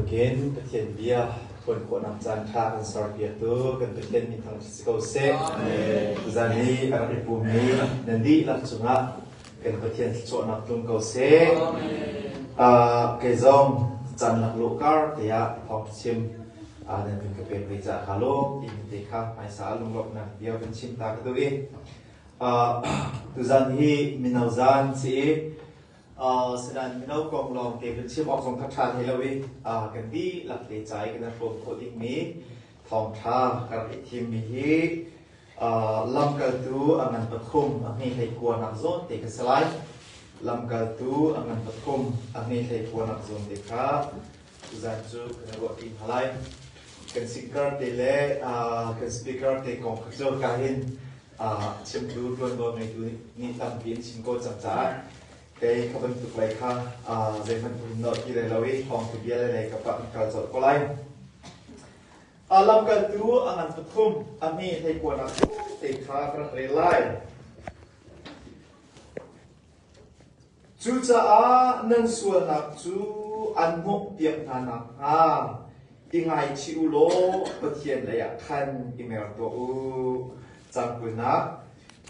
bantukin Pathian bia ṭuan khawhnak caan kha kan serpiaktu kan Pathian mi thang si ko seh. Tuzan i a rak i pummi nan dihlak cungah kan Pathian thluachuahnak tlung ko seh. Kei zong caan laklawh kar tiah thawng chim nan kan ka pek ve ca kha law tiin te kha hmaisa ah lunglawmhnak bia kan chim ta ka duh i tuzan hi mino zan si i Sinan mino kong lawngte kan chim awk zong kha ṭha hlei lo i kan dihlak te ca i kan hrawm khawh dingmi thawngṭha ka rak i thimmi hi lamkaltu a ngan pathum a hme hlei kuanak zawn te ka si lai. Lamkaltu a ngan pathum a hme hlei kuanak zawn te kha tuzan cu kan ruahpi hna lai. Kan singer te le kan speaker te kong kha cu ka hin chimtu ṭuanvo ngeitu nih tampi an chim ko cang caah kei ka bantuk lei kha zeihmanh um nolh ti lai lo i thawngtha bia le lei ka pah in kal colh ko lai. Lamkaltu a ngan tukhum a mi hleikuanak te kha ka rak rel lai. Cucaah nan sualnak cu an mawhpiak hna nakhnga i ngaichih u law Pathian leiah khan i mer tuah u. Caan kulnak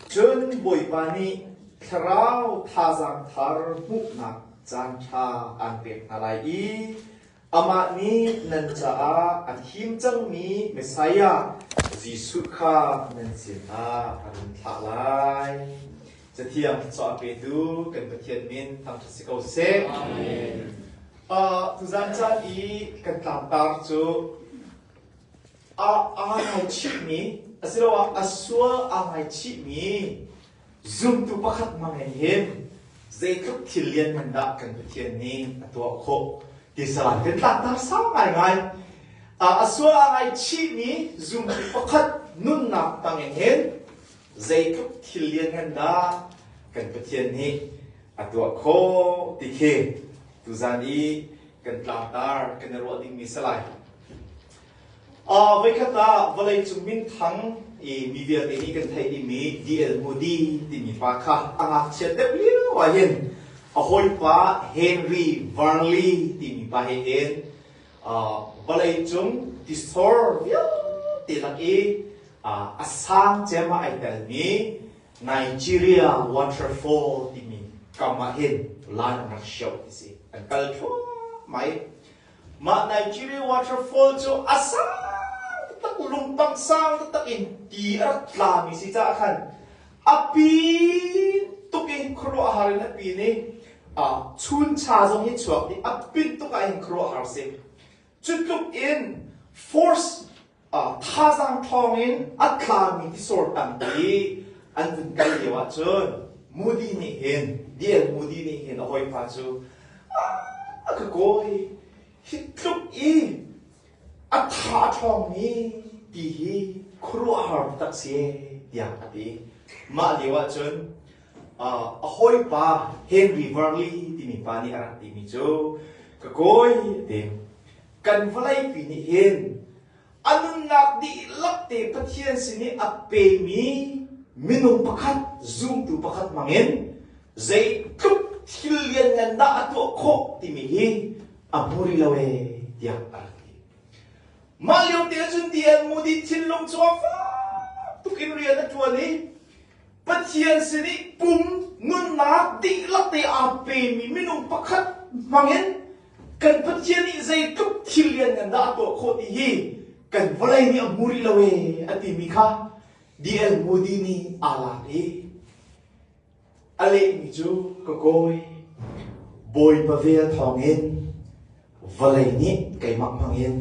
Cun Bawipa nih thlarau thazaang thar hmuhnak caanṭha aan pek hna lai i amah nih nan caah a thim cangmi Messiah Jesuh kha nan sinah a run thlah lai. Cathiang thluachuah petu kan Pathian min thangṭhat si ko seh. Uh, tuzan caan i kan tlangtar cu a aa ngaichihmi asiloah a sual aa ngaichihmi zumtu pakhat ma ngei hin zeitluk thil lianngan dah kan Pathian nih a tuah khawh tisa kan tlakter sau ngaingai a sual a ngaichihmi zumtu pakhat nunnak tangin hin zeitluk thil lianngan dah kan Pathian nih a tuah khawh ti khi tuzan i kan tlangtar kan i ruah dingmi salai Voikhat ah vawleicung minthang i mi vialte nih kan theih dingmi D.L. Moody timi pa kha a ngakchiat deuh lio ahhin a hawipa Henry Burnley timi pa he hin vawleicung distor vialte lak i a sang cem ah ai telmi Nigeria waterfall timi kam ahhin laan an rak hioh ti si. An kal thluahmah i Mah Nigeria waterfall cu a sang tak lungpang sang taktak in ti a rat tlami si caah khan a pi tuk in khuaruah har in a pi nih chuncha zong hi chuak dih a pit tuk ah hin khuaruah har si. Cu tluk in force thazaang ṭhawng in a tlami tisor tampi an vun kal lio ahcun Moody nih hin DL Moody nih hin a hawipa cu a ka kawi hi tluk i a tha ṭhawngmi ti hi khuaruahhar tak si tiah a ti mah lio ahcun a hawipa Henry Varley timi pa nih a rak timi cu ka kawi te kan vawleipi nih hin a nunnak dihlak te Pathian sin i a pemi minung pakhat zumtu pakhat hmangin zeitluk thil lianngan dah a tuah khawh timi hi a hmu rih lo ee tiah a rak ti. Mah lio te cun ti an mudit thinlung chuang fak tuk in rian a tuan i Pathian sin i pum nunnak dihlak te aa pemi minung pakhat hmangin kan Pathian nih zeitluk thil lianngan dah a tuah khawh ti hi kan vawlei nih a hmu rih lo ee a timi kha DL Moody nih aa lak i a lehmi cu ka kawi Bawipa vel thawngin vawlei nih keimah hmangin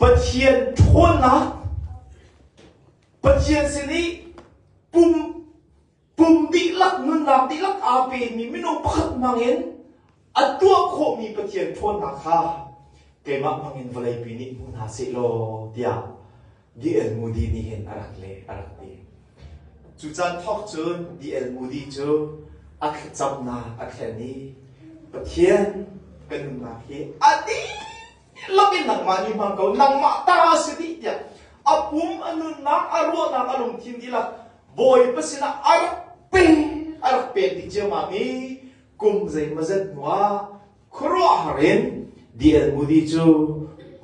Pathian ṭhawnnak Pathian sin i pum kum dihlak nunnak dihlak aa pemi minung pakhat hmangin a tuah khawhmi Pathian ṭhawnnak kha keimah hmangin vawleipi nih hmu hna seh law tiah D.L. Moody nih hin a rak leh a rak ti. Cu caan thawk cun D.L. Moody cu a thlacamnak a thlen i Pathian kan nunnak hi a ti Lak in nangmah nih hmang ko, nangmah ta si dih tiah a pum, a nunnak, a ruahnak a lungthin dihlak Bawipa sinah a rak ping, a rak pek dih ciammam i kum zeimaw zet hnuah khuaruahhar in di-el-mudi cu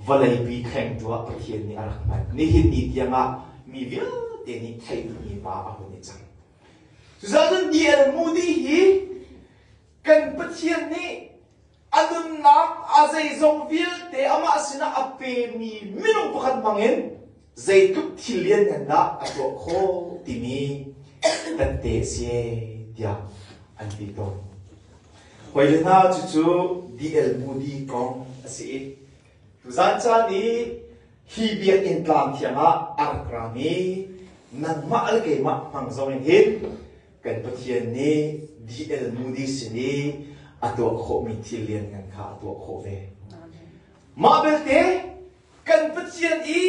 vawleipi thlengtu ah Pathian nih a rak hman. Nihin ni tiangah mi vialte nih theih duhmi pa a hun i cang. Cucaah cun di-el-mudi hi kan Pathian nih a nunnak a zeizong vialte amah sinah a pemi minung pakhat bangin zeitluk thil lianngan dah a tuah khawh timi kan te a si tiah an ti tawn. Hawile hna cucu DLMUD kong a si i tuzan caan i hi biakinn tlang thiang ah a rak rang i nangmah le keimah hmang zong in hin kan Pathian nih DL Moody sin i a tuah khawhmi thil lianngan kha a tuah khawh ve. Mah belte kan Pathian i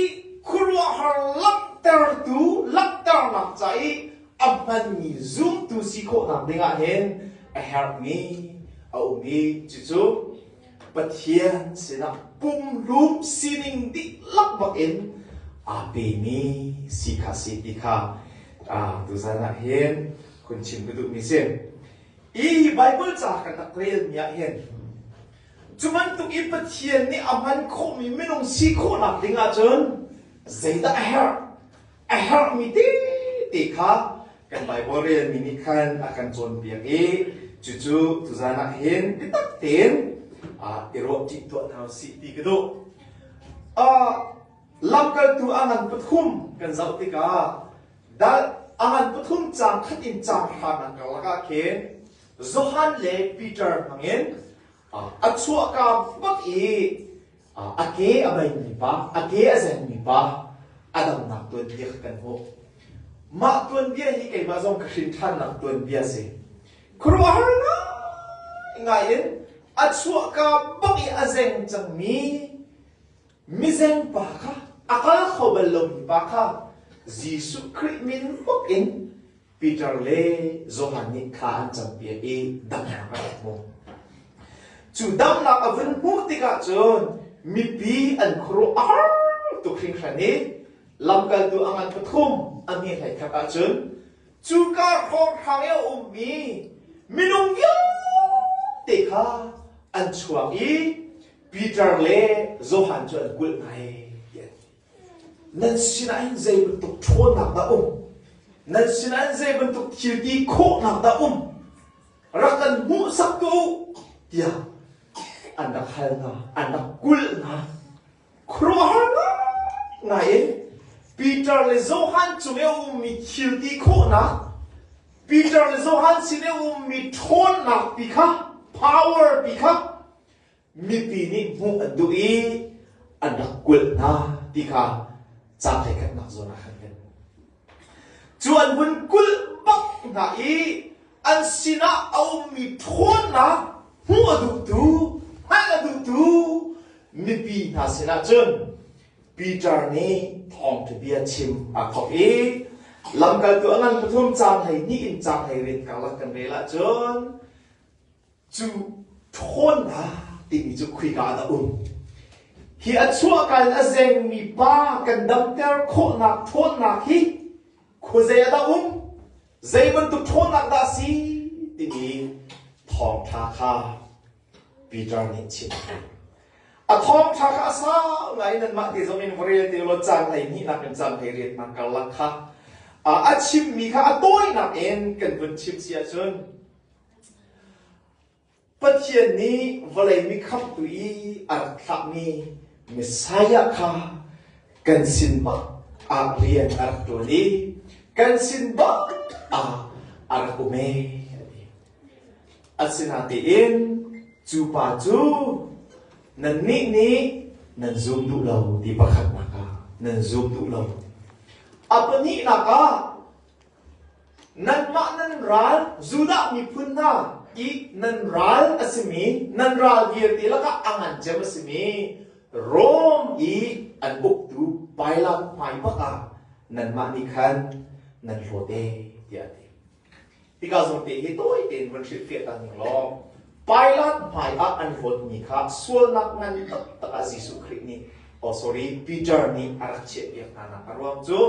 khuaruahhar langhtertu langhternak ca i a hmanmi zumtu si khawhnak dingah hin a herhmi a um i cucu Pathian sinah pumhlum sining dihlak bakin aa pemi si kha si ti kha tuzan ah hin kun chim ka duhmi si. Hi Bible ca kan rak relmi ah hin cu bantuk in Pathian nih a hman khawhmi minung si khawhnak ding ahcun zeidah a herh? a herhmi tete kha kan Baibal relmi nih khan a kan cawnpiak i cucu tuzan ah hin biatak tein i ruah ṭi tuah hna usih ti ka duh. lamkaltu a ngan pathum kan zoh tikah a ngan pathum caang khat in caang hra nan karlak ah khin Johan le Peter hmangin a chuahka bak i a ke a beimi pa, a ke a zengmi pa a damnak tuanbia kha kan hmuh. Mah tuanbia hi keimah zong ka hrinṭhannak tuanbia a si. Khuaruahhar ngai in a chuahka bak i a zeng cangmi mizengpa kha a kal kho bal lomi pa kha Jesuh Khrih min bak in Peter le Johan nih thla an campiak i damnak an hmu. Cu damnak a vun hmuh tikah cun mipi an khuaruah a har tuk hringhran i lamkaltu a ngan pathum a hnih hleikhat ahcun cuka hrawng hrang i a ummi minung vialte kha an chuak i Peter le Johan cu an kulh ngai. Nan sinah hin zei bantuk ṭhawnnak dah um? Nan sinah hin zei bantuk thilti khawhnak dah um? Rak kan hmuhsak ko tiah an rak hal hna, an rak kulh hna. Khuaruahhar ngai in Peter le Johan cung i a ummi thilti khawhnak, Peter le Johan sin i a ummi ṭhawnnak pi kha, power pi kha mipi nih hmuh an duh i an rak kulh hna ti kha ca tlekhatnak zawn ah khan kan hmuh. Cu an vun kulh bak hna i an sinah a ummi ṭhawnnak hmuh a duhtu, hngalh a duhtu mipi hna sinah cun Peter nih thawngṭhabia chim aa thawk i lamkaltu a ngan pathum caanghei hnih in caanghei rit karlak kan rel ahcun cu ṭhawnnak timi cu khoika ah dah um? Hi a chuahka in a zengmi pa kan damter khawhnak ṭhawnnak hi khuazei ah dah um? Zei bantuk ṭhawnnak dah a si? timi thawngṭha kha Peter nih chim. A thawngṭha kha a sau ngai nanmah ti zong in varete law caan ei hnihnak in caan ei riat hna karlak kha a chimmi kha a tawinak in kan vun chim si ahcun Pathian nih vawlei mi khamhtu i a rak thlahmi Messiah kha kan sin bak ah rian a rak ṭuan i kan sin bak ah a rak um ee a ti. Asinatein cu pa cu nannih nih nan zum duh lo ti pakhatnak ah nan zum duh lo. A pahnihnak ah Nanmah nan ral Judah miphun hna i nan ral a simi nan ral vialte lakah a ngan cem a simi Rom i an buktu bailam hmai bakah nanmah nih khan nan hlaw te tiah a ti. Tikah zongte hi tawi tein vun hrilhfiah ta ning law Pilat hmaiah an hlawtmi kha sualnak ngan taktak ah Jesuh Khrih nih oh sorry Peter nih a rak chiah piak hnanak a ruang cu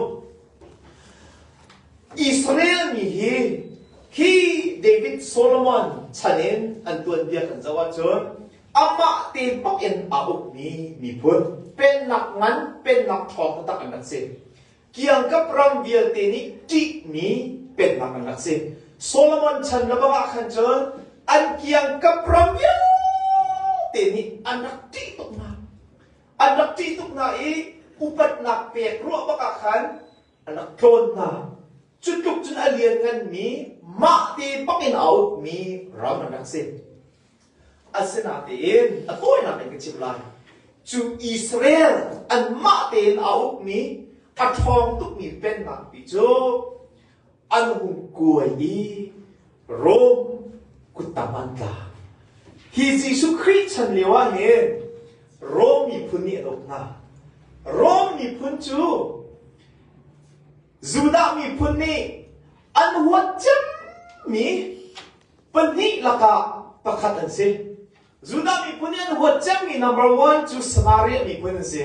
Israel mi hi khi David Solomon chan in an tuanbia kan zoh ahcun amah te bak in aa ukmi miphun pennak ngan pennak ṭhawng taktak an rak si kiangkap ram vialte nih ṭihmi pennak an rak si Solomon chan le bak ah khan cun an kiangkap ram vialte nih an rak ṭih tuknak an rak ṭih tuk hna i upatnak pek ruah bakah khan a rak tlawn hna. Cu tluk cun a liannganmi mah te bakin a outmi raunak rak si. Asinain a tawinak in ka chim lai. Cu Israel an mah tein a ukmi a ṭhawng tukmi pennak pi cu an hung kuai i Rom kuttam an tla. Hi Jesuh Khrih chan lio ah hin Rom miphun nih an uk hna. Rom miphun cu Judah miphun nih an huat cemmi pahnih lakah pakhat an si. Judah miphun nih an huat cemmi number one cu Samaria miphun an si.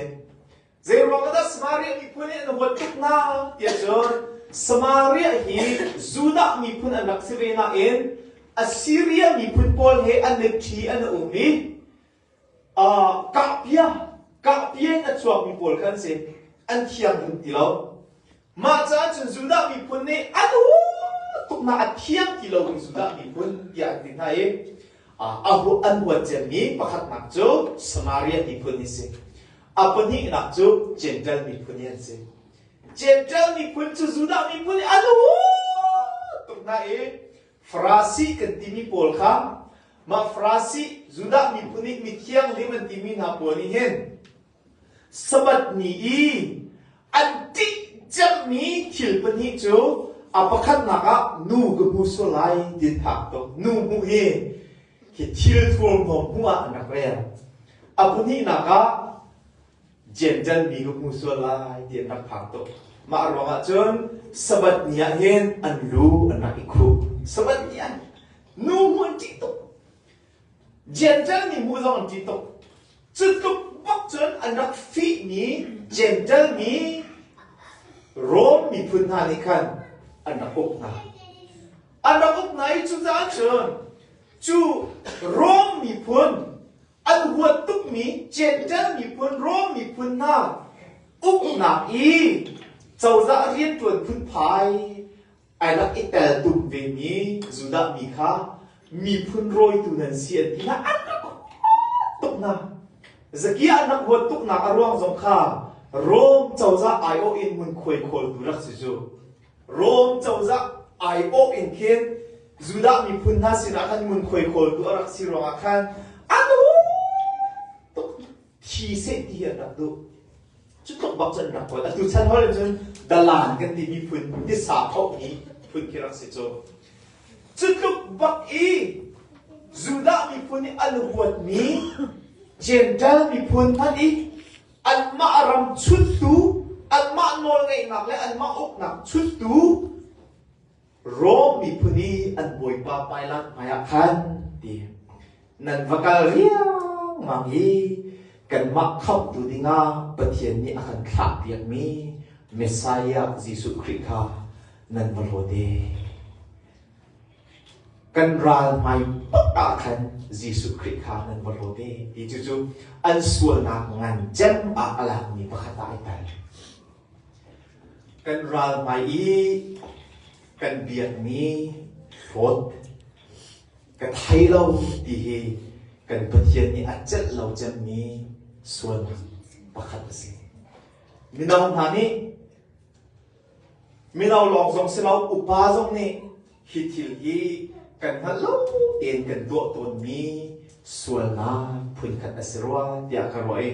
Zeiruang ahdah Samaria miphun nih an huat tuk hna tiah cun Samaria hi Judah miphun an rak si ve nain Assiria miphun pawl he an mit ṭhi an um i uh, kahpia kahpia in a chuakmi pawl kha an si an thianghlim ti lo. Mah caan cun Judah miphun nih a tuknak a thiang ti lo in Judah miphun tiah an ti hna i an huat cemmi pakhatnak cu Samaria miphun hi si. A pahnihnak cu Jentail miphun hi an si. Jentail miphun cu Judah miphun i a tuk hna i Farasi kan timi pawl kha mah Farasi Judah miphun nih mithianghlim an timi hna pawl nih hin Sabbath ni i an ṭih cemmi thil pahnih cu a pakhatnak ah nu ka hmu sual lai ti an phak tuk. Nu hmuh hi hi thil thuamhnuam hmuh ah an rak rel. A pahnihnak ah Jenjan mi ka hmu sual lai ti an rak phak tuk. Mah ruangah cun Sabbath ni ah hin an lu an rak i khuh. Sabbath ni ah nu hmuh an ṭih tuk. Jentail mi hmuh zong an ṭih tuk. Cu tluk bak cun an rak fihmi Jentail mi Rom miphun hna nih khan an rak uk hna. An rak uk hna i cucaah cun cu Rom miphun an huat tukmi Jentail miphun Rom miphun hna uknak i cozah rianṭuan phunphai ai rak i tel tuk vemi Judah mi kha miphun rawitu nan si an ti hna an rak huat tuk hna Zakiah an rak huat tuknak a ruang zong kha Rom cozah aiawh in ngunkhuai khawltu rak si cu Rom cozah aiawh in khin Judah miphun hna sinah khan ngunkhuai khawltu a rak si ruangah khan an huat tuk thi seh ti an rak duh. Cu tluk bak cun rak kawl. Atu chan hol in cun dalan kan timi phun tisa thohmi phun khi rak si cu. Cu tluk bak i Judah miphun nih an huatmi Jentail miphun hmanh i anmah ram chuttu, anmah nawlngeihnak le anmah uknak chuttu Rom miphun i an bawipa pailak hmaiah khan ti nan va kal riangmang i kanmah khamhtu dingah Pathian nih a kan thlahpiakmi Messiah Jesuh Khrih kha nan va lawte. Kan ral hmai pat ah khan Jesuh Khrih kha nan va lawte ti cucu an sualnak ngan cem ah a lakmi pakhat ah ai tel. Kan ral hmai i kan biakmi hlawt ka thei lo ti hi kan Pathian nih a celh lo cemmi sualnak pakhat a si. Mino hna nih mino lawng zong si lo upa zong nih hi thil hi kan hngalh lo tein kan tuah tawnmi sualnak phunkhat a si rua tiah ka ruah i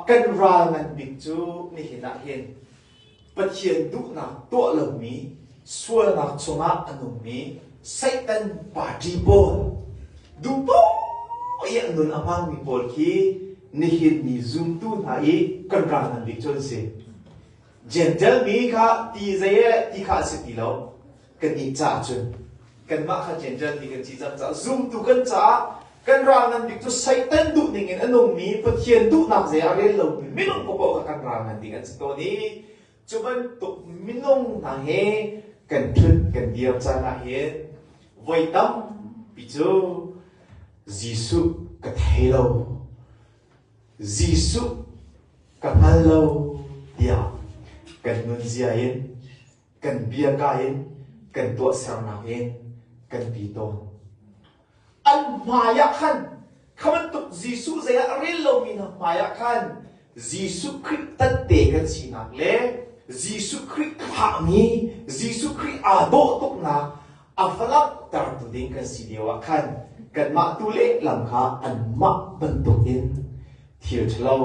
kan ral ngan bik cu nihin ah hin Pathian duhnak tuah lomi sualnak chungah a nungmi Satan party pawl duhpoh i a nun a hmangmi pawl khi nihin ni zumtu hna i kan ral ngan bik cu an si. Gentle mi kha ti zei ti kha a si ti lo. kan i ca cun kanmah kha Gentle ti kan si cang caah zumtu kan caah kan ral ngan bik cu Satan duh ningin a nungmi Pathian duhnak zei ah rel lomi minung paoh kha kan ral ngan ding an si tawn i cu bantuk minung hna he kan ṭhut kan dir caan ahhin voi tampi cu Jesuh ka thei lo Jesuh ka hngal lo tiah kan nunzia in kan bia ka in kan tuahsernak in kan ti tawn. An hmaiah khan kha bantuk Jesuh zei ah rel lomi hna hmaiah khan Jesuh Khrih tatte kan sinak le Jesuh Khrih thahmi Jesuh Khrih aa dawh tuknak a va langhtertu ding kan si lio ah khan kanmah tu lehlam kha anmah bantuk in thil ṭhalo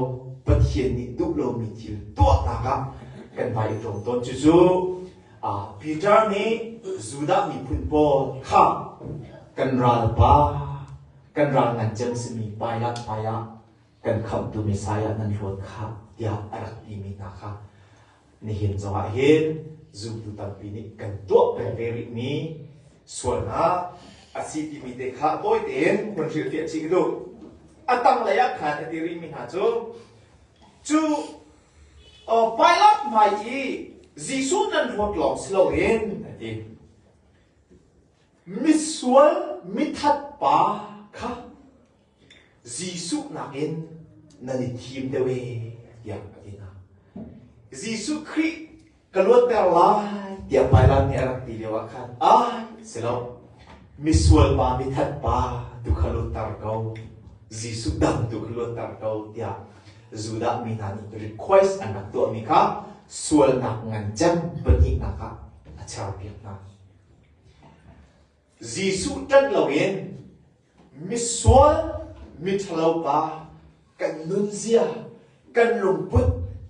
Pathian nih duh lomi thil tuahnak ah kan vai i tlawm tawn cucu Peter nih Judah miphun pawl kha kan ralpa kan ral ngan cem simi pailah paiah kan khamhtu Messiah nan hluat kha tiah a rak timi hna kha Nihin zongah hin zumtu tampi nih kan tuah peng ve rihmi sualnak a si timi te kha tawi tein hun hrilhfiah chih duh. A tanglei ah khan a ti rihmi hna cu cu Pilate hmai i Jesuh nan ruat lawng si loin a ti. Misual mithat pa kha Jesuh nakin nan i thim deuh ee tiah a ti hna. Jesuh Khrih ka luatter lai tiah Pailat nih a rak ti lioah khan ai si lo misual pa mithat pa tu kha luatter ko Jesuh dang tu kha luatter ko tiah Judah mi hna nih request an rak tuahmi kha sualnak ngan cem pahnihnak ah a cherpiak hna. Jesuh ṭanh loin misual miṭhalopa kan nunzia, kan lungput,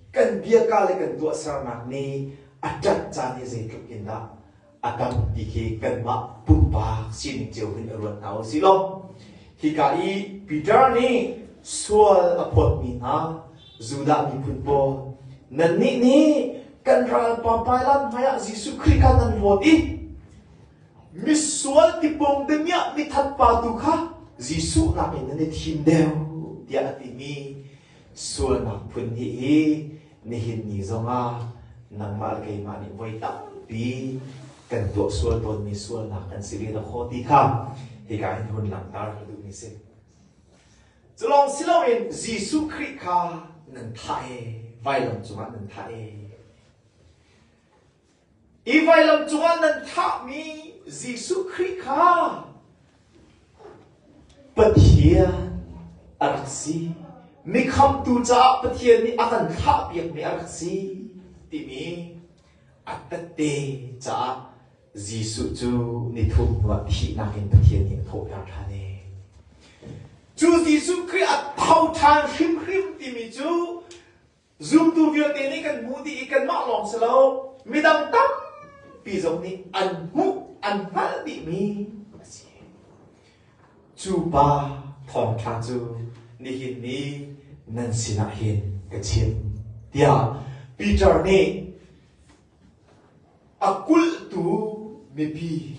kan biaka le kan tuahsernak nih a ṭanh caan hi zeitluk in dah a tam ti khi kanmah pumpak sining cio hin i ruat hna u si law hika i Peter nih sual a phawtmi hna Judah miphun pawl nannih nih kan ral papai lan hmaiah Jesuh Khrih kha nan hlawt i Misual tipawng demiah mithat pa tu kha Jesuh nakin nan i thim deuh tiah a timi sualnak phun hi hi nihin ni zongah nangmah le keimah nih voi tampi kan tuah sual tawnmi sualnak kan si ve khawh ti kha hika in hun langhter ka duhmi si. Culong si loin Jesuh Khrih kha nan thah e, vailam cungah nan thah e. Hi vailam cungah nan thahmi Jesuh Khrih kha Pathian a rak si. Mikhamtu caah Pathian nih a kan thahpiakmi a rak si timi a tette caah Jesuh cu ni thum hnuah thihnak in Pathian nih a thawhter ṭhan i cu Jesuh Khrih a tho ṭhan hrimhrim timi cu Zumtu vialte nih kan hmu dih i kanmah lawng si lo, midang tampi zong nih an hmuh, an hngalh dihmi a si. Cu pa thawngṭha cu nihin ni nan sinah hin ka chim. Tiah Peter nih a kulhtu mipi,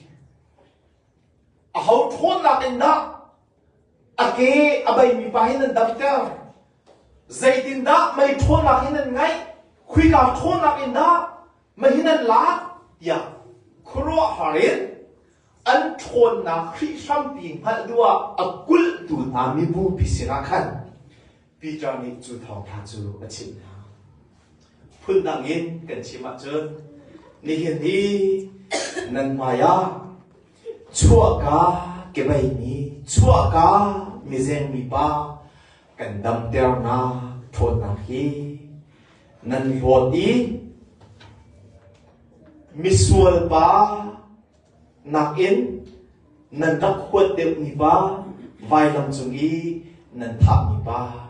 a ho ṭhawnnak in dah A ke a beimi pa hi nan damter. Zeitindah mei ṭhawnnak hi nan ngeih? Khuika ṭhawnnak in dah meihi nan lak? tiah khuaruahhar in an ṭhawnnak hrih hrampi hngalh duh ah a kulhtu hna mibupi sinah khan Peter nih cu thawngṭha cu a chimh hna. Phundang in kan chim ahcun nihin hi nan hmaiah chuahka kebeimi chuahka mizeng mipa kan damternak ṭhawnnak hi nan hlawt i misual pa Nakin nan rak huat deuhmi pa, vailam cung i nan thahmi pa,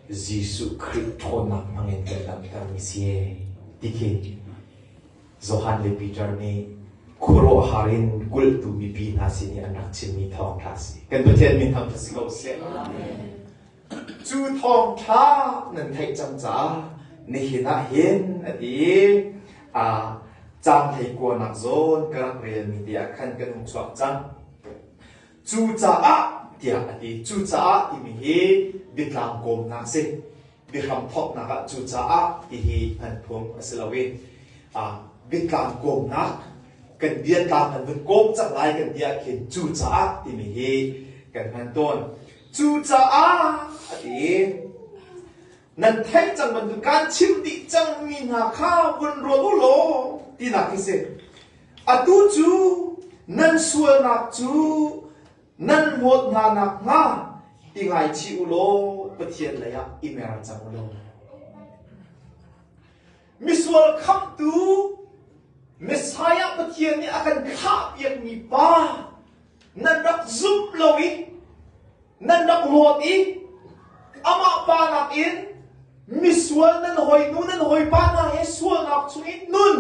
Jesuh Khrih ṭhawnnak hmangin kan damtermi si e, ti khi Johan le Peter nih khuaruahhar in kulhtu mipi hna sin i an rak chimmi thawngṭha a si. Kan Pathian min hmang cu si ko seh. Amen. Cu thawngṭha nan theih cang caah nihin ah hin a ti i a caan thei kuanak zawn ka rak relmi tiah khan kan hung chuak cang. Cucaah tiah a ti. Cucaah timi hi biatlang kawmnak a si. Biahram thawknak ah cucaah tihi an phung a si loin biatlang kawmnak kan biatlang an vun kawm cang lai kan ti ah khin cucaah timi hi kan hman tawn. Cucaah a ti. Nan theih cang bantuk kan chim dih cang mi hna kha vun ruat u law tinak hi si. Atu cu nan sualnak cu nan hlawt hna nakhnga i ngaichih u law Pathian leiah i mer cang u law. Misual khamtu Messiah Pathian nih a kan thlahpiakmi pa nan rak zumh lo i nan rak rawt i amah pa nakin misual nan hoi nu nan hawipa hna he sualnak chungin nun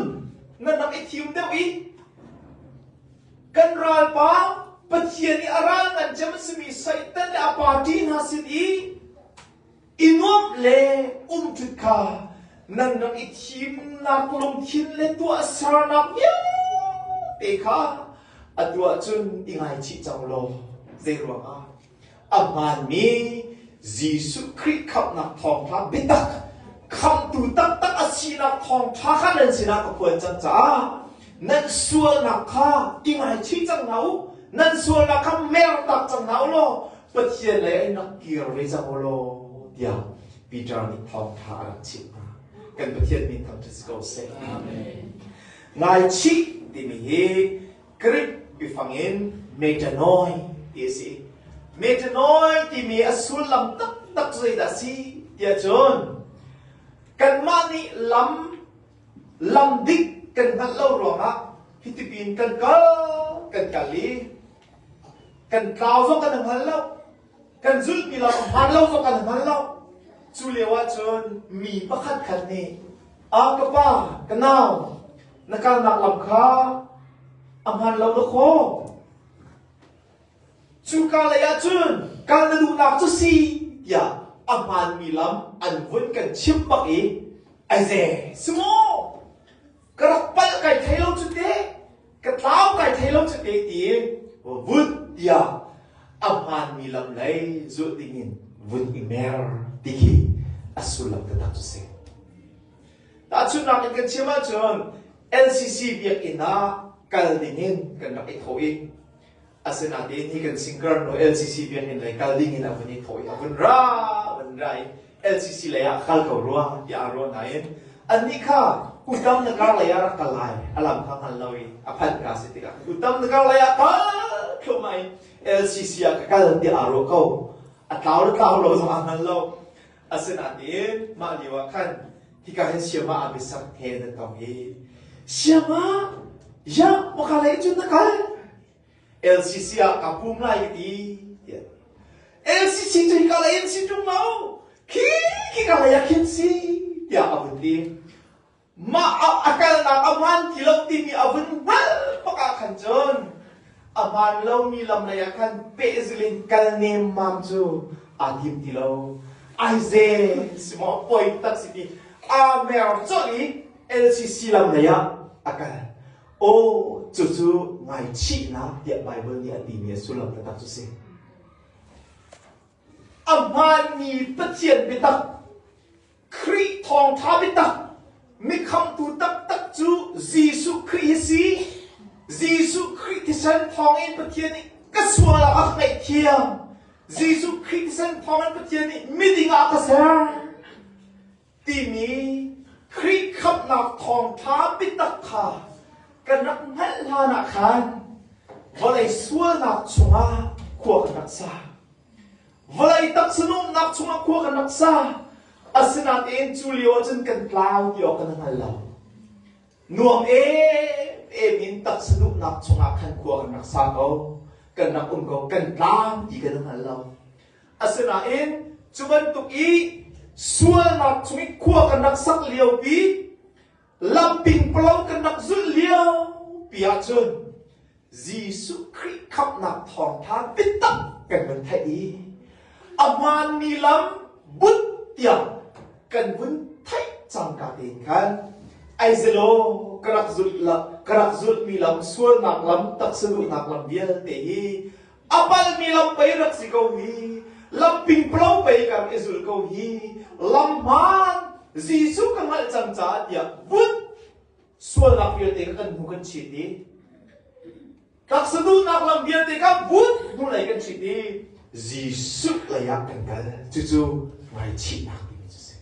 nan rak i thim deuh i kan ralpa Pathian i a ral ngan cem a simi Satan le a party hna sin i i nuamh le umṭut kha nan rak i thimnak lungthin le tuah sernak vialte kha a tuah cun i ngaichih cang law zeiruangah a hmaanmi Jesuh Khrih khamhnak thawngṭha biatak khamtu taktak a sinak thawngṭha kha nan sinah ka phuan cang caah nan sualnak kha i ngaichih cang hna u nan sualnak kha mertak cang hna u law Pathian lei an rak kir ve cang u law tiah Peter nih thawngtha a rak chimh hna. Kan Pathian minthang cu si ko seh. Amen. Ngaichih timi hi Greek biafang in metanoi ti a si. Metanoi timi a sullam taktak zeidah a si tiah cun kanmah nih lam lam dik kan hngalh lo ruangah hitipin kan kal kan kal i Kan tlau zong kan hngal lo. Kan zulhmi lo, hmaan lo zong kan hngal lo. Cu lio ahcun mi pakhat khat nih, "Ah ka pa, ka nau, na kalnak lam kha a hmaan lo na khaw? Cuka lei ahcun kal na duhnak cu si tiah a hmaanmi lam an vun kan chimh bak i, "Ai ze, si maw?" ka rak palh kai thei lo cu te ka tlau kai thei lo cu te ti vun tiah a hmaanmi lam lei zulh dingin vun i mer ti khi a sullam taktak cu si tahchunhnak in kan chiam ahcun NCC biakinn ah kal dingin kan rak i thawh i Asinain hi kan sinker nu LCC biakinn lei kal ding in a vun i thawh i a vun ra vun ra i LCC lei ah kal ko rua ti aa ruah nain annih kha kutam na kar lei ah rak kal lai a lang kha hngal lo i a phanh ka si tikah kutam na kar lei ah kal thlumai LCC ah ka kal ti aa ruah ko a tlau le tlau lo zong aa hngal lo Asinain mah lio ah khan hika hin siama abiasak he nan tong i siama ya maka lei cun na kal LCC ah ka pum lai ka ti tiah LCC cu hika lei an si ṭung lo khi hika lei ah khin si tiah a vun ti Mah ah a kalnak a hmaan ti lo timi a vun hngalh bak ah khan cun a hmaan lomi lam lei ah khan pehzil in kal nemmam cu aa tim ti lo. Aize si maw poi tak si ti Amer colh i LCC lam lei ah a kal. Aw cucu ngaichihnak tiah Baibal nih a timi a sullam taktak cu si. A hmaanmi Pathian biatak Khrih thawngṭha biatak mikhamhtu taktak cu Jesuh Khrih hi si. Jesuh Khrih thisen thawngin Pathian nih ka sual ah a ka ngaihthiam. Jesuh Khrih thisen thawngin Pathian nih miding ah ka ser timi Khrih khamhnak thawngṭha biatak kha kan rak hngalh hlanah khan vawlei sualnak chungah khua kan rak sa. Vawlei taksa nuamhnak chungah khua kan rak sa. Asinain cu lio ah cun kan tlau ti awk kan hngal lo. Nuam em em in taksa nuamhnak chungah khan khua kan rak sa ko. Kan rak um ko. Kan tlau ti kan hngal lo. Asinain cu bantuk i sualnak chung i khua kan rak sak lio pi Lampingpolo kan rak zulh lio pi ahcun Jesuh Khrih khamhnak thawngtha biatak kan vun theih i a hmaanmi lam bunh tiang kan vun theih cangka tein khan ai zelaw ka rak zulh ka rak zulhmi lam sualnak lam taksaduhnak lam vialte hi a palmi lam pei rak si ko hi lam pingplo pei kan i zul ko hi lam hmaan Jesuh ka hngalh cang caah tiah vun sualnak vialte kha kan hnu kan chit i taksa duhnak lam vialte kha vun hnulei kan chit i Jesuh leiah kan kal cucu ngaichihnak timi cu si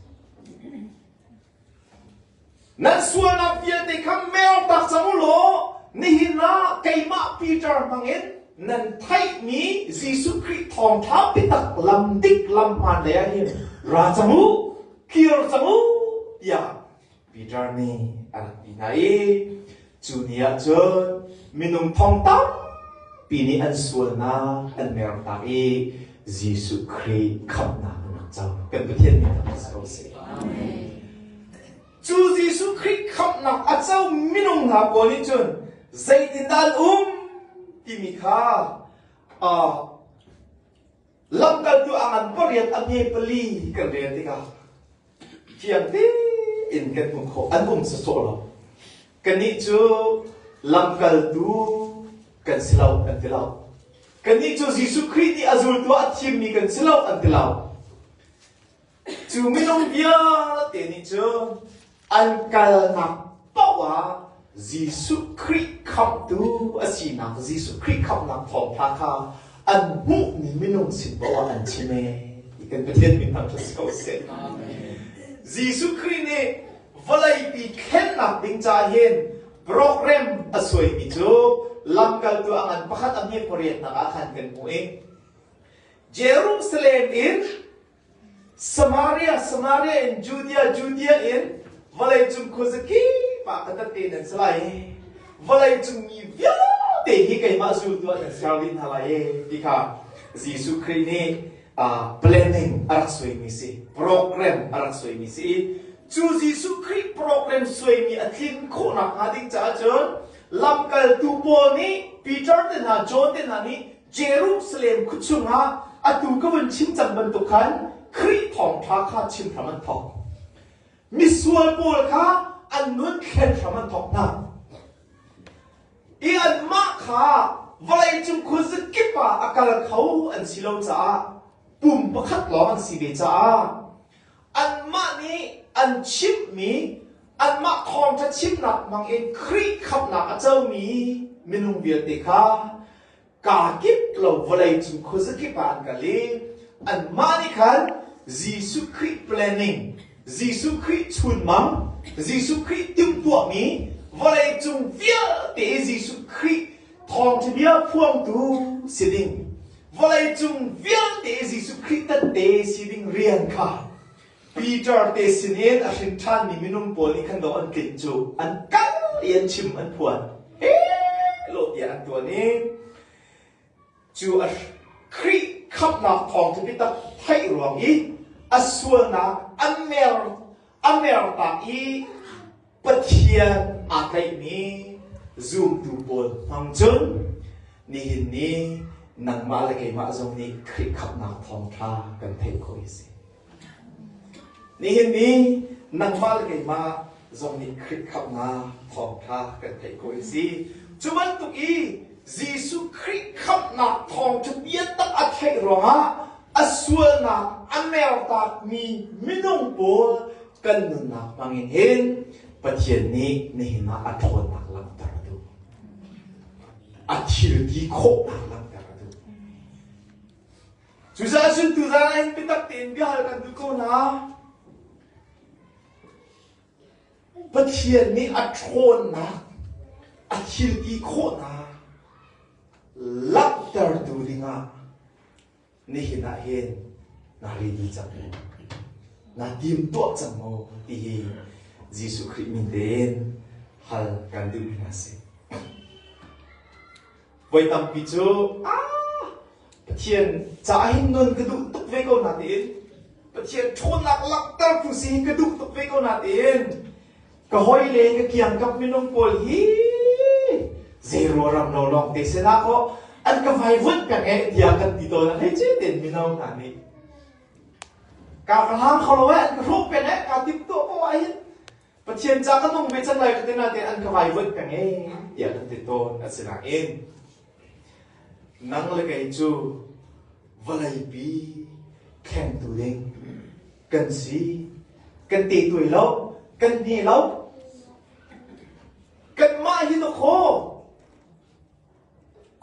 Nan sualnak vialte kha mengtak cang u law nihin ah keimah Peter hmangin nan theihmi Jesuh Khrih thawngṭha biatak lam dik lam hmaan lei ah hin ra cang u, kir cang u, tiah Peter nih a rak ti hna i Cu ni ah cun minung thong tampi nih an sualnak an mertak i Jesuh Khrih khamhnak an rak co. Kan Pathian min ah si ko seh. Cu Jesuh Khrih khamhnak a co minung hna pawl nih cun zeitindah an um timi kha uh, Lamkaltu a ngan pariat a hme pali kan rel tikah fiang tein kan um khawh an um sawsawh lo. Kannih cu lamkaltu kan si lo an ti lo. Kannih cu Jesuh Khrih nih a zultu ah a thimmi kan si lo an ti lo. Cu minung vialte nih cun an kalnak paoh ah Jesuh Khrih khamhtu a sinak Jesuh Khrih khamhnak thawngtha kha an hmuhmi minung sin paoh ah an chim ee ti kan Pathian min hmang cu si ko seh. Jesuh Khrih nih vawleipi thlennak ding ca hin program a suaimi cu lamkaltu a ngan pakhat a hme pariat nak ah khan kan hmuh i Jerusalem in Samaria, Samaria in Judea, Judea in vawleicung khuazakip ah ka tat te nan si lai vawleicung mi vialte hi keimah zultu ah nan ser rih hna lai ti kha Jesuh Khrih nih planning a rak suaimi si program a rak suaimi si i cu Jesuh Khrih program suaimi a tlin khawhnak hnga ding caah cun lamkaltu Paul nih Peter te hna John te hna nih Jerusalem khuachung ah atu ka van chim cang bantuk khan Khrih thawngṭha kha chim hram an thawk. Misual pawl kha an nun thlen hram an thawk hna. I anmah kha vawleicung khuazakip kip ah a kal kho an si lo caah pum pakhat lawng an si ve caah anmah nih an chimhmi anmah thawngṭha chimnak hmang in Khrih khamhnak a comi minung vialte kha kaa kip lo vawleicung khuazakip ah an kal i anmah nih khan Jesuh Khrih planning, Jesuh Khrih chunmang, Jesuh Khrih timhtuahmi vawleicung vialte Jesuh Khrih thawngṭhabia phuangtu si ding, vawleicung vialte Jesuh Khrih tette si ding rian kha Peter te sinin a hrin ṭhanmi minung pawl nih khan lo an tlinh cu an kal i an chim an phuan lo tiah an ṭuan i cu a Khrih khamhnak thawng cu biatak theih ruang i a sualnak a mer a mertak i Pathian aa tlaihmi zumtu pawl hmang cun nihin ni nangmah le keimah zong nih Khrih khamhnak thawngṭha kan theih khawh a si. Nihin ni nangmah le keimah zong nih Khrih khamhnak thawngṭha kan theih khawh a si. Cu bantuk i Jesuh Khrih khamhnak thawngṭha biatak a theih ruangah a sualnak a mertakmi minung pawl kan nunnak hmangin hin Pathian nih nihin ah a ṭhawnnak langhter a duh. A thil ti khawhnak langhter a duh. Cucaah suntu zan ah hin biatak tein biahal kan duh ko hna. Pathian nih a ṭhawnnak, a thil ti khawhnak langhtertu dingah nihin ah hin naa ri dih cang maw? Naa timtuah cang maw? ti hi Jesuh Khrih min tein hal kan duhmi hna si. Voi tampi cu, ah, Pathian caah hin non ka duh tuk ve ko natiin, Pathian ṭhawnnak langhter phu si hin ka duh tuk ve ko natiin, ka hawile ka kiangkap minung pawl hi zeirua ram lo lawng te sinah kaw an ka vaivuanh peng e tiah kan ti tawn a hlei ce ten mino hna nih ka ka hlang kho lo e an ka hrup peng e ka tip to ko ah hin pathian ca ka nung ve can lai ka tina te an ka vaivuanh peng e tiah kan ti tawn a si nain nang le kei cu vawleipi thlengtu ding kan si kan te tuai lo kan hne lo kanmah hi to kho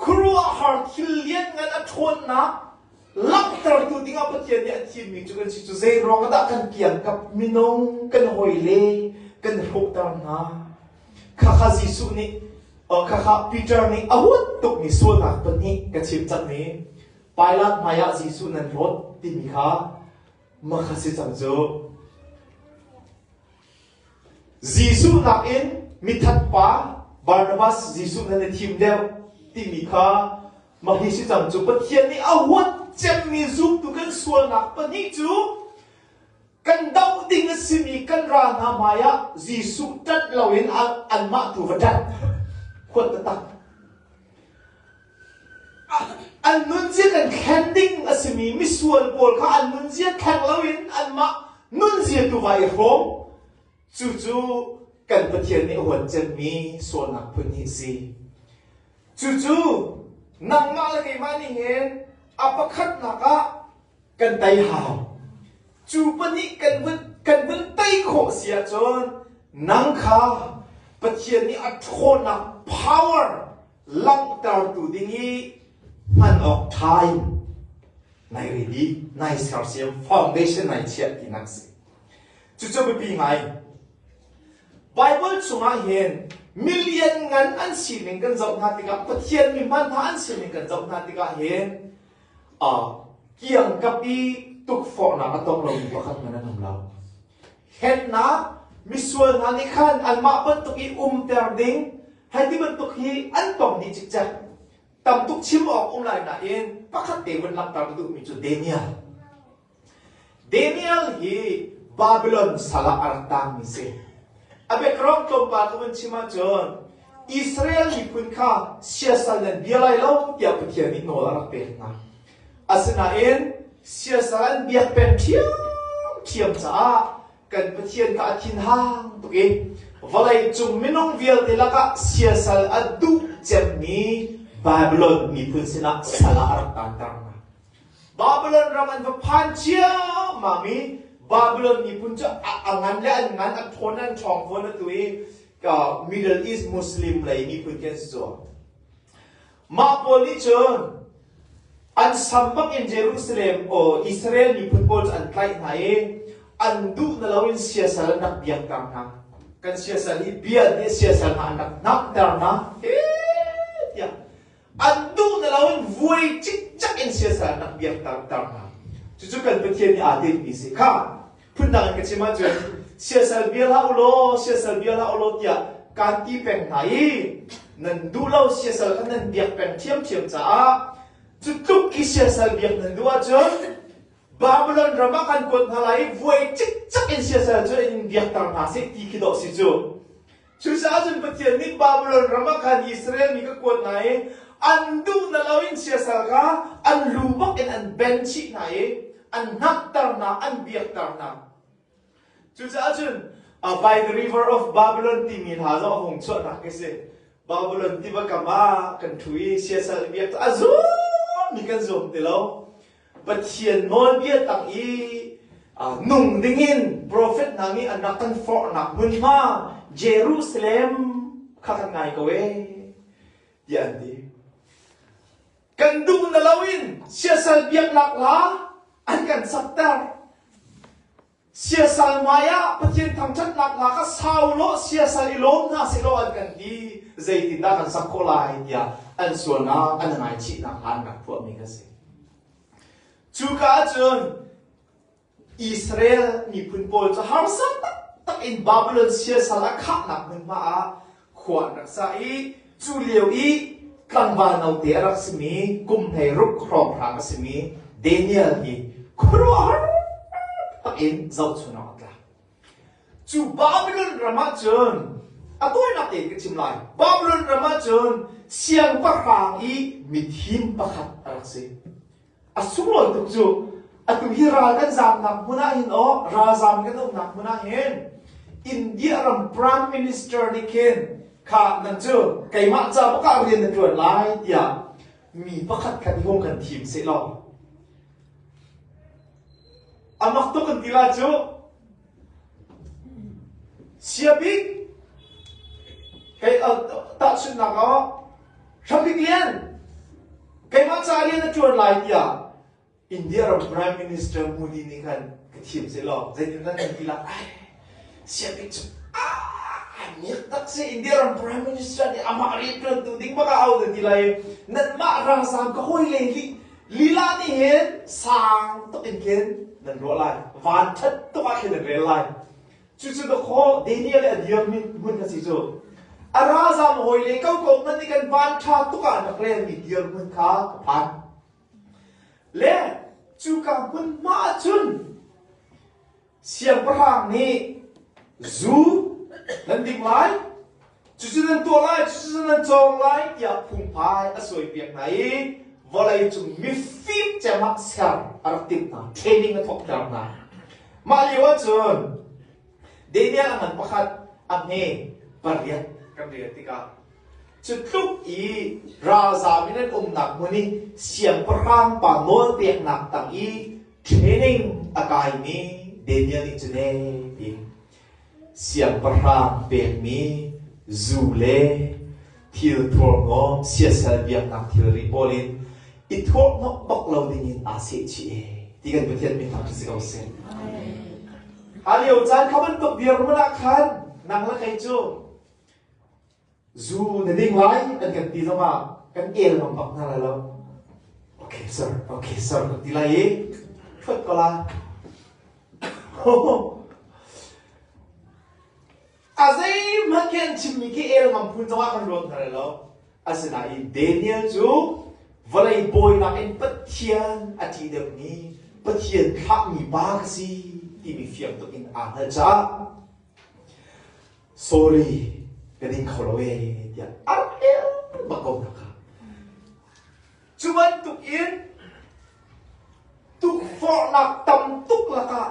khuru a har thil lian ngan a ṭhawnnak langhter tu ding ah Pathian nih a thimmi cu kan si cu zeiruang ah dah kan kian kap minung kan hoi le kan hrawhter hna khakha Jesuh nih khakha Peter nih a huat tukmi sualnak pahnih ka chim cangmi Pilat hmaiah Jesuh nan rawt timi kha Mah kha si cang cu. Jesuh nakin mithat pa Barnabas Jesuh nan i thim deuh timi kha mah hi si cang cu Pathian nih a huat cemmi zumtu kan sualnak pahnih cu kan doh ding a simi kan ra hna hmai ah Jesuh tat loin anmah tu va tat. Huat taktak. An nunzia kan thlen ding a simi misual pawl kha an nunzia thleng loin anmah nunzia tu vai hrawm. Cucu kan Pathian nih huancenmi sualnak phun hi a si. Cucu nangmah le keimah nih hin a pakhatnak ah kan tei hau. Cu pahnih kan vun kan vun tei khawh si ahcun nang kha Pathian nih a ṭhawnnak power langhtertu ding i hman awk time nai ri di nai sersiam foundation nai chiah ti nak si cucu biapi ngai Bible chungah hin million ngan an sining kan zoh hna tikah Pathian mi hman hna an sining kan zoh hna tikah hin uh, kiang kapi tukforhnak a tong lomi pakhat man an um lo Hlennak misual hna nih khan anmah bantuk i umter ding hei ti bantuk hi an tong dih cikcek. Tam tuk chim awk um lai nain pakhat te vun langhter na duhmi cu Daniel. Daniel hi Babylon sal ah a rat tangmi si. A background tlawmpal ka vun chim ahcun Israel miphun kha siasal nan bia lai lo tiah Pathian nih nawl a rak pek hna. Asinain siasal biak peng ṭhiamṭhiam caah kan Pathian kha a thinhang tuk i vawleicung minung vialte lakah siasal a duh cemmi Babylon miphun sinah sal ah a rak kanter hna. Babylon ram an va phan ciammam i Babylon miphun cu a ngan le an ngan a ṭhawn le an ṭhawng fawn atu i Middle East Muslim lei miphun khi an si cuah. Mah pawl nih cun an sam bangin Jerusalem aw Israel miphun pawl cu an tlaih hna i an duh na loin siasal an rak biakter hna. Kan siasal i bia nih siasal hna an rak hnakter hna. He tiah an duh na loin vuai cikcak in siasal an rak biakter hna. Cucu kan Pathian nih aa tinmi si kha phundang in ka chim ahcun siasal bia hlah ulaw siasal bia hlah ulaw tiah kaan ti peng hna i nan duh lo siasal kha nan biak peng ṭhiamṭhiam caah cu tluk i siasal biak nan duh ahcun Babylon ram ah kan kuat hna lai i vuai cikcak in siasal cu in biakter hna sih ti khi dawh si cu Cucaah cun Pathian nih Babilon ram ah khan Israel mi ka kuat hna i an duh na loin siasal kha an lu bak in an ben chih hna i an hnakter hna, an biakter hna. Cucaah cun by the river of Babylon timi hna zong a hung chuahnak khi si. Babylon tiva kam ah kan thu i siasal biak a zum mi kan zum ti lo. Pathian nawlbia tang i nung dingin profet hna nih an rak kan forhnak hmunhma Jerusalem kha kan ngai ko e tiah an ti. Kan duh na lo in siasal biak lak la an kan sakter. Siasal hmaiah Pathian thangṭhatnak lak ah sau law siasal i lawm hna seh law an kan ti. Zeitindah kan sak khawh lai tiah an sualnak an i ngaichih nakhnga an rak tuahmi kan si. Cuka ahcun Israel miphun pawl cu harsa taktak in Babilon siasal a khahnak hmunhma ah khua an rak sa i cu lio i tlangval note a rak simi kum hlei ruk hrawnghrang a simi Daniel hi khuaruahhar in zohchun awk a tlak cu Babylon ram ah cun a tawinak tein ka chim lai Babylon ram ah cun siangpahrang i mithim pakhat a rak si A sunglawi tuk cu! Atu hi ral kan zaamnak hmun ah hin aw, ralzaam kan umnak hmun ah hin India ram Prime Minister nih khin kha nan cu keimah cabuk ah rian na ṭuan lai tiah mi pakhat khat i hum kan thim seh law. A mak tuk kan ti lah cu! Siabik kei tahchunhnak ah Hrabik Lian keimah ca rian a ṭuan lai tiah India ram Prime Minister Modi nih khan ka thiam seh law zeitindah nan ti lai siabik cu taksa India ram Prime Minister nih amah rianṭuantu ding bak ah au na ti lai i nanmah ralzaam ka hawi le nih Lila nih hin sang tuk in khin nan ruah lai. Van ṭhat tuk ah khin nan rel lai. Cucu dawkhaw Daniel le a dirmi hmun a si cu. A ralzam hawile kokok hmanh nih kan van ṭha tuk ah rak relmi dirhmun kha ka phan. Le cuka hmunhma ah cun Siangpahrang nih, Zu nan ding lai, cucu nan tuah lai, cucu nan cawng lai, tiah phungphai a suaipiak hna i vawleicung mifim cemah ser a rak timh hna, training a thawkter hna. Mah lio ahcun Daniel a ngan pakhat a hme pariat kan rel tikah cu tluk i ralzam in an umnak hmun i siangpahrang pa nawl peknak tang i training a kaimi Daniel nih cu ne tiin siangpahrang pekmi zu le thil thurhnawm siasal biaknak thilri pawl in i thurhnawmh bak lo dingin aa sehchih e ti kan Pathian min thang si ko seh. A lio caan kha bantuk dirhmun ah khan nang le kei cu Zu na ding lai an kan ti zongah kan el ngam bak hna lai lo. Ok sir, ok sir kan ti lai i hrot ko la. a zeihmanh khin chimmi khi el ngam phun zongah kan ruat hna lai lo. Asinain Daniel cu vawlei bawinak in Pathian a ṭih deuhmi Pathian thlahmi pa ka si timi fiang tuk in aa hngal caah sorry ka ding kho lo ee tiah a rel bak ko hna kha. Cu bantuk in tukforhnak tam tuk lakah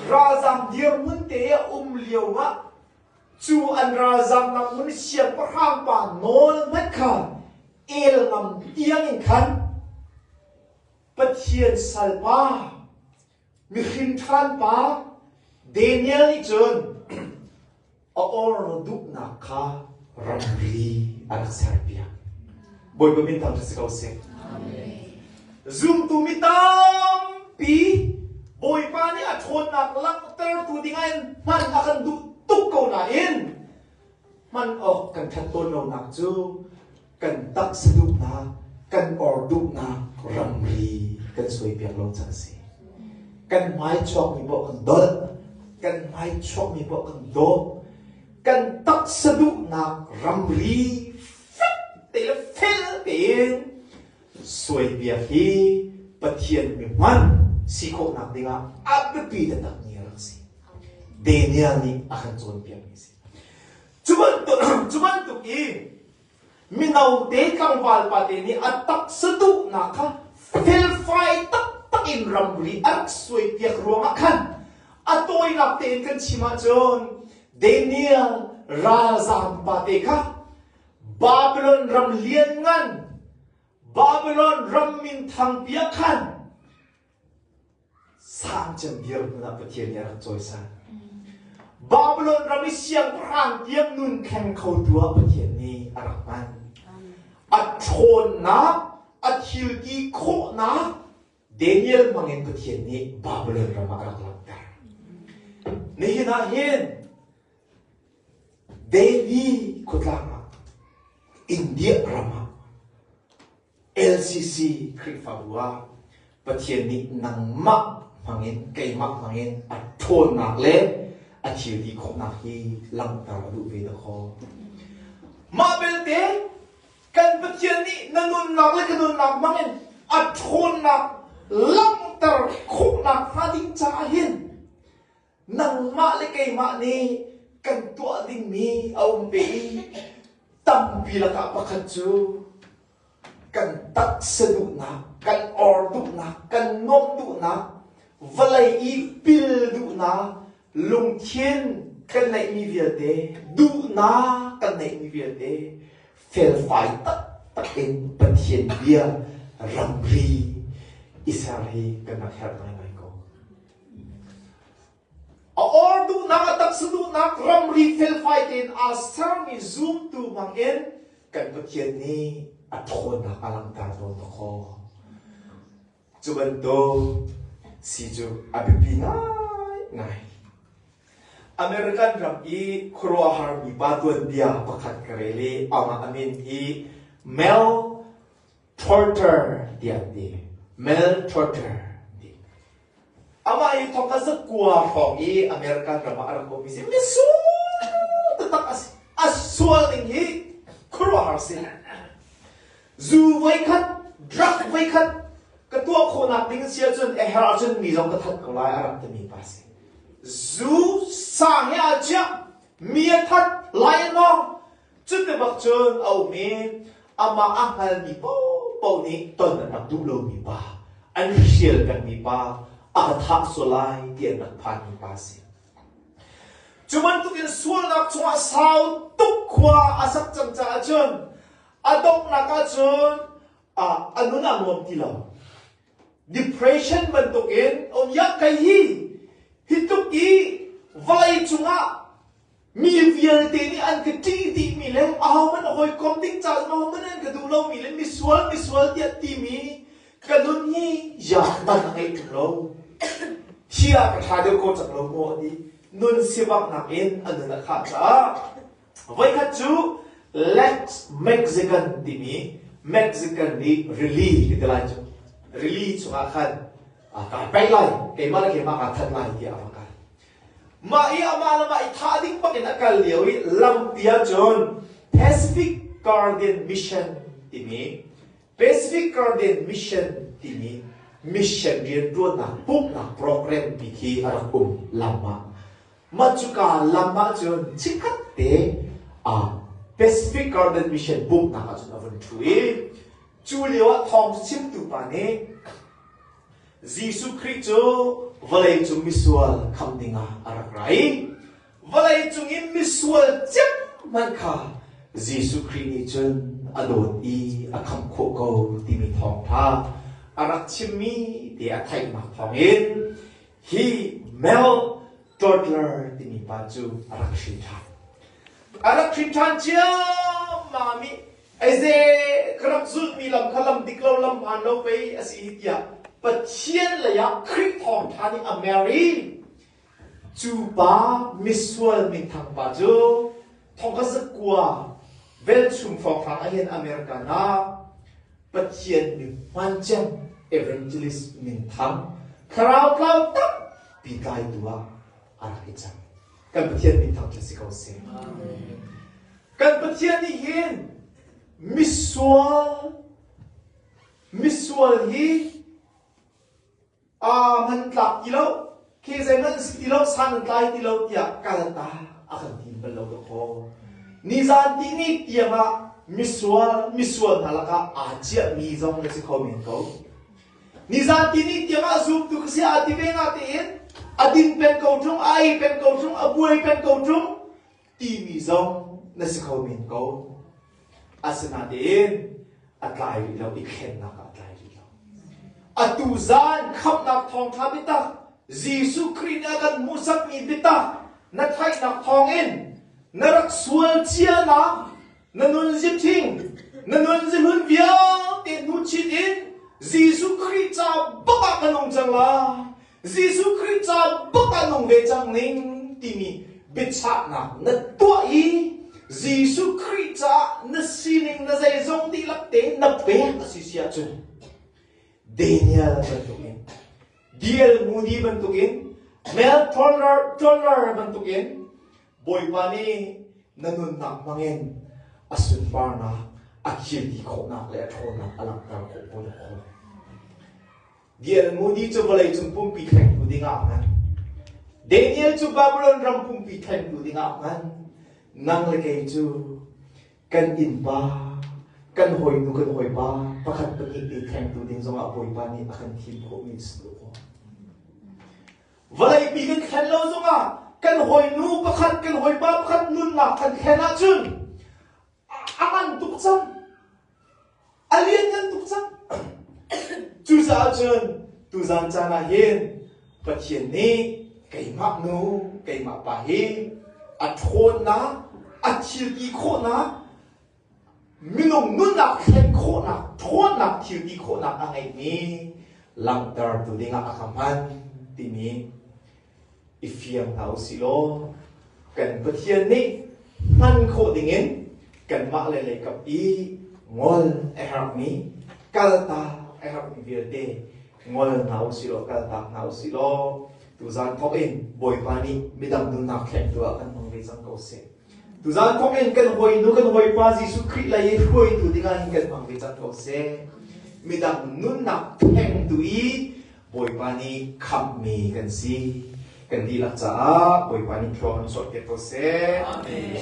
ralzam dirmun te a um lio ah cu an ralzam ngamun siangpahrang pa nawl hmanh khan el ngam tiang in khan Pathian salpa Mihring ṭharanpa Daniel nih cun a or duhnak kha ramri a rak serpiak. Bawipa min thangṭhat si ko seh. Zumtu mi tampi Bawipa nih a ṭhawnnak langhtertu dingah in hman a kan duh tuk ko nain hman awk kan ṭhat tawn lonak cu kan tangh saduhnak kan or duhnak ramri kan suai piak lo cang a si kan hmai chuakmi poah kan dolh kan hmai chuakmi poah kan dawp kan tangh saduhnak ramri fek te le fel tein suai piak hi Pathian mihman si khawhnak dingah a biapi taktakmi a rak si Daniel nih a kan cawnpiakmi a si cu bantuk, cu bantuk in Mino te tlangval pate nih a taksa duhnak kha felfai taktak in ramri a rak suai piak ruangah khan a tawinak tein kan chim ahcun Daniel ralzaam pate kha Babylon ram lianngan Babylon ram minthang piah khan Sang cem dirhmun ah Pathian nih a rak cawisan. Babylon ram i siangpahrang tiang nun thleng khotu ah Pathian nih a rak hman. A ṭhawnnak, a thilti khawhnak Daniel mangin Pathian nih Babylon ram ah a rak langhter. Nihin ah hin Delhi khuatlang ah, India ram ah LCC Khrihfabu ah Pathian nih nangmah hmangin keimah hmangin a ṭhawnnak le a thilti khawhnak hi langhter a duh ve dahkaw. Mah belte kan Pathian nih na nunnak le ka nunnak hmangin a ṭhawnnak langhter khawh nakhnga ding caah hin nangmah le keimah nih kan tuah dingmi a um ve i tampi lakah pakhat cu kan taksa duhnak kan or duhnak kan nuamh duhnak vawlei i pil duhnak lungthin kan neihmi vialte duhnak kan neihmi vialte felfai taktak in Pathian bia ramri i ser hi kan rak herh ngaingai ko A or duhnak, a taksa duhnak ramri felfai tein aa sermi zumtu bangin kan Pathian nih a ṭhawnnak a langhter tawn khawh. Cu bantuk si cu a biapi ngaingai. American ram i khuaruahharmi pa tuanbia pakhat ka rel i amah a min hi Mel Torture tiah ti. Maltorture ti. Amah hi thawk a zakua hrawng i American ram ah a rak ummi si. Misual taktak a sual ning hi khuaruahhar si. Zu voikhat, drug voikhat ka tuah khawhnak ding si ahcun a her ahcun mi zong ka that ko lai a rak timi pa si. Zu sang he a chiah mi a that lai maw Cu ti bak cun a um i amah a hngalmi paohpaoh nih ton an rak duh lomi pa, an hrial pengmi pa, a ka thah sual lai ti an rak phanmi pa a si. Cu bantukin sualnak chungah sau tuk khua a sak cang caah cun a donghnak ah cun a, a nun a nuam ti lo. Depression bantukin um ya kei hi hi tluk i vawlei cungah mi vialte nih an ka ṭih dihmi le ahohmanh hawikom ding caah ahohmanh an ka duh lomi le misual misual tiah timi ka nun hi yaakman a ngei ṭung lo. Hi ah ka ṭha deuh ko cang lo maw a ti. Nun sivaknak in a nun a khah caah Voikhat cu Lex Mexican timi Mexican nih rili ka ti lai cu rili chungah khan aa kai pei lai keimah le keimah kaa that lai tiah a va kai mah i amah le mah i thah ding bakin a kal lio i lampi ah cun Pacific Guardian Mission timi Pacific Garden Mission timi mission rianṭuannak pumhnak program pi khi a rak um lam ah. Mah cuka lam ah cun chikkhat te ah Pacific Garden Mission pumhnak ah cun a vun ṭhu i cu lio ah thawng cu chimtu pa nih Jesuh Khrih cu vawleicung misual kham ding ah a rak ra i Vawlei cungin misual ciammanh kha Jesuh Khrih nih cun a dawt i a khamh khawh ko timi thawngṭha a rak chimmi te a theihnak thawngin hi Mel Totler timi pa cu a rak hrin ṭhan. A rak hrin ṭhan ciammam i aize ka rak zulhmi lam kha lam dik lo lam hmaan lo pei a si hi tiah Pathian leiah Khrih thawngṭha nih a mer i Cu pa misual mitthang pa cu thawngkazakua velchum hrawnghrang ah hin America nak Pathian min hman cem evangelist minthang thlarau tlau tampi tlaitu ah a rai cang. Kan Pathian minthang cu si ko seh. Kan Pathian nih hin misual misual hi aa man tlak ti lo, khi zeihmanh si ti lo, san an tlai ti lo tiah kalta a kan tim bal lo dawh Nizan ti ni tiang ah misual misual hna lakah aa ciah mi zong na si kho men ko. Nizan ti ni tiang ah zumtu ka si a ti ve nga tein a din pen ko ṭung, a ei pen ko ṭung, a buai pen ko ṭung, timi zong na si kho men ko. Asinain a tlai rih lo i thlennak ah a tlai rih lo. Atu zan khamnak thawngtha bitak Jesuh Khrih nih a kan hmuhsak mi bitak na theihnak thawngin na rak sual cianak Na nun zithing, na nun zihlun vialte hnu chit in Jesuh Khrih ca bak ah ka nung cang lai. Jesuh Khrih ca bak ah nung ve cang ning timi biachahnak na tuah i Jesuh Khrih caah na sining na zeizong dihlak te na pek a si sia cu Daniel bantukin Diehl Moody bantukin Mel Toller, Toller bantukin Bawipa nih na nunnak hmangin a sunparnak, a thilti khawhnak le a ṭhawnnak a langhter khawh hawi a khawl. Daniel Moody cu vawleicung pumpi thlengtu dingah hman. Daniel cu Babylon ram pumpi thlengtu dingah hman. Nang le kei cu kan innpa, kan hawinu, kan hawipa pakhat pahnih te thlengtu ding zongah Bawipa nih a kan thim khawhmi a si khawh. Vawleipi kan thlen lo zongah kan hawinu pakhat kan hawipa pakhat nunnak kan thlen ahcun a ngan tuk cang. A lianngan tuk cang. Cucaah cun tuzan caan ah hin Pathian nih keimah nu keimah pa hi a ṭhawnnak a thilti khawhnak Minung nunnak thlen khawhnak, ṭhawnnak, thilti khawhnak a ngeimi langhtertu dingah a ka hman timi i fiang hna u si law kan Pathian nih hman khawh dingin kanmah le leikap i ngol a herhmi kaltak a herhmi vialte ngol hna u si law kaltak hna u si law tuzan thawk in Bawipa nih midang nunnak thlengtu ah kan hmang ve cang ko seh. Tuzaan thawk in kan hawi nu kan hawipa Jesuh Khrih lei i hruaitu dingah hin kan hmang ve cang ko seh. Midang nunnak thengtu i Bawipa nih khamhmi kan si. Kan dihlak caah Bawipa nih thlua kan sawhpiak ko seh. Amen.